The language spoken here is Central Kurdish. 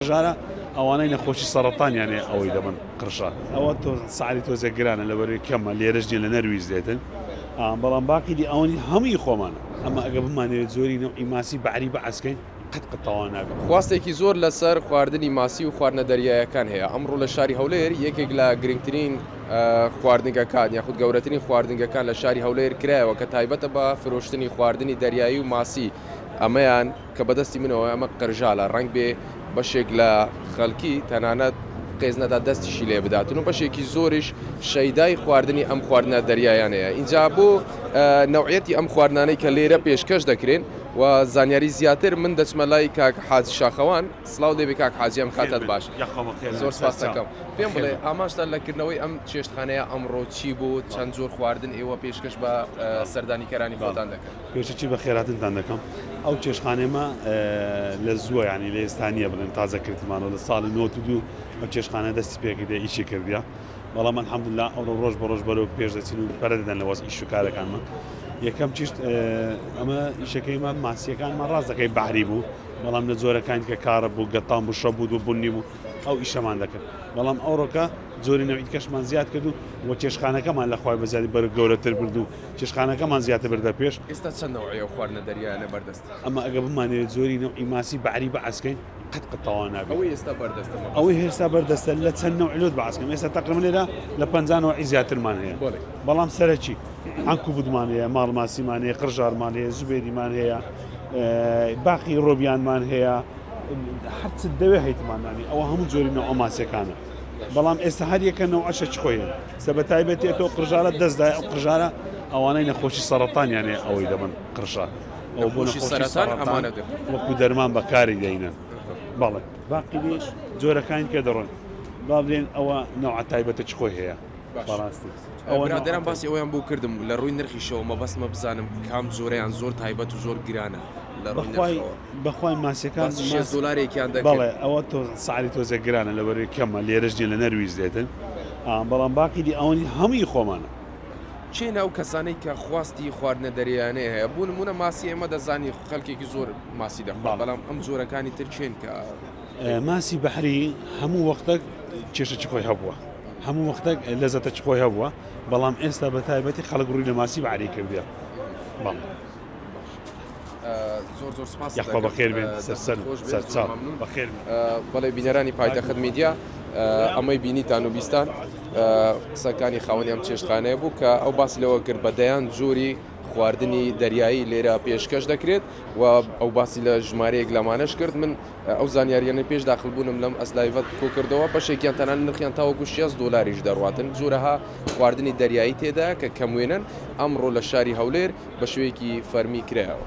جارا ئەوانەی نەخۆشی سەڕەتانیان هەیە ئەوەی دەبن قرشە ئەوە تۆ سعری تۆزێک گرانە لەبەروی کەمە لێرەش نیە لە نەرویج دێتن بەڵام باقی دی ئەوەنی هەمووی خۆمانە ئەمە ئەگە بمانەوێت زۆری نەوعی ماسی بەعری بەعسکەین قەت قەت تەواو نابێت. خواستێکی زۆر لەسەر خواردنی ماسی و خواردنە دەریایەکان هەیە، ئەمڕۆ لە شاری هەولێر یەکێک لە گرنگترین خواردنگەکان یاخود گەورەترین خواردنگەکان لە شاری هەولێر کرایەوە کە تایبەتە بە فرۆشتنی خواردنی دەریایی و ماسی ئەمەیان کە بەدەستی منەوە ئەمە قرژالە ڕەنگ بێ بەشێک لە خەلکی تەنانەت قێزنەدا دەستیشی لێ بداتن و بەشێکی زۆریش شەیدای خواردنی ئەم خواردنە دەریایانەیە ئینجا بۆ نەوعیەتی ئەم خواردنانەی کە لێرە پێشکەش دەکرێن و زانیاری زیاتر من دەچمە لای کاک حاجی شاخەوان سلاو لێبی کاک حاجی ئەم کاتەت باش زۆر سپاستەکەم پێم بڵێ ئاماژتان لە کردنەوەی ئەم چێشتخانەیە ئەمڕۆ چی بوو چەند جۆر خواردن ئێوە پێشکەش بە سەردانیکەرانی خۆتان دەکەن؟ پێشەکی بە خێراتنتان دەکەم ئەو چێشتخانەیە مە لە زووە یانی لە ئێستا نییە بڵێن تازە کردمانەوە لە ساڵی نۆت دوو ئەو چێشتخانە دەستی پێکردە ئیشی کردە بەڵام الحەمدلله ئەو ڕۆژ بە ڕۆژ بەرەو پێش دەچین و پەرە دەدەن لە وەز ئیش و کارەکانمان یەکەم چیشت ئەمە ئیشەکەیمان ماسیەکانمان ڕاستەکەی بەعری بوو بەڵام لە جۆرەکان کە کارە بوو گەتان بوو شە بوو و بوونی بوو ئەو ئیشەمان دەکرد بەڵام ئەوڕۆکە جۆری نەویت کەشمان زیاد کرد و وە چێشخانەکەمان لەخوای بەزیادی بەرە گەورەتر بردو چێشتخانەکەمان زیاتر بردە پێش. ئێستا چەند نەوعی ئەو خواردنە دەریایانە بەردەستە؟ ئەمە ئەگەر بمانەوێت جۆری نەوعی ماسی بەحری بەعس کەین قەت قەت تەواو نابێت. ئەوەی ئێستا بەردەستە مەبەستە. ئەوەی هێستا بەردەستە لە چەند نەوع لۆت بەعس کەم ئێستا تەقریبەن لێرە لە پەنجا نەوعی زیاترمان هەیە. بەڵێ. بەڵام سەرەکی عەنکوبوتمان هەیە، ماڵ ماسیمان هەیە، قرژارمان هەیە، زوبێریمان هەیە، باقی ڕۆبیانمان هەیە، هەرچت دەوێت هەیتمان نانی ئەوە هەموو جۆری نەوعە ماسییەکانە. بەڵام ئێستا هەر یەکە نەوعەشە چ خۆیە سەبەتایبەتی ئەتۆ قژارە دەستدا ئەو قژارە ئەوانەی نەخۆشی سەرەتانیانێ ئەوەی دەبن قڕشە ئەو بۆ نەخۆشی سەرەتان وەکو دەرمان بەکاری دەینن بەڵێ باقی جۆرەکانی کە دەڕۆن بابلێن ئەوە نەوە تایبەتە چ خۆی هەیە باش برادەران باسی ئەویان بۆ کردم لە ڕووی نرخیشەوە مەبەستمە بزانم کام جۆرەیان زۆر تایبەت و زۆر گرانە لە ڕووی بەخوای ماسیەکان دلارێکیان دەڵێ ئەوە تۆ ساری تۆزە گرانە لە بەروی کەمە لێرەش نیە لە نەرویز دێتن بەڵام باقی دی ئەوەنی هەمووی خۆمانە چێ ناو کەسانەی کە خواستی خواردنە دەریانەیە هەیە بوون منە ماسی ئێمە دەزانی خەلکێکی زۆر ماسی دەخوا بەڵام ئەم جۆرەکانی ترچێن کە ماسی بەحری هەموو وەختە کێشە چ خۆی هەبووە هەموو وەختەک لەزەتەکی خۆی هەبووە بەڵام ئێستا بە تایبەتی خەڵک ڕووی لە ماسی بەعری کردە بەڵ زۆر زۆر سپاس یاخوا بەخێر بێن سەرسەر خۆش بێت، زۆر سەرچاو مەمنون. بەخێر بێن. بەڵێ بینەرانی پایتەخت میدیا ئە، ئەمەی بینیتان و بیستان ئە، قسەکانی خاوەنی ئەم چێشتخانەیە بوو کە ئەو باسی لەوە کرد بە دەیان جۆری خواردنی دەریایی لێرە پێشکەش دەکرێت و ئەو باسی لە ژمارەیەک لەمانەش کرد من ئەو زانیارییانەی پێش داخلبوونم لەم ئەس لایڤە کۆکردەوە، بەشێکیان تەنانەت نرخیان تاوەکو شێست دۆلاریش دەڕواتن، جۆرەها خواردنی دەریایی تێدایە کە کەموێنەن، ئەمڕۆ لە شاری هەولێر بە شێوەیەکی فەرمی کرایەوە.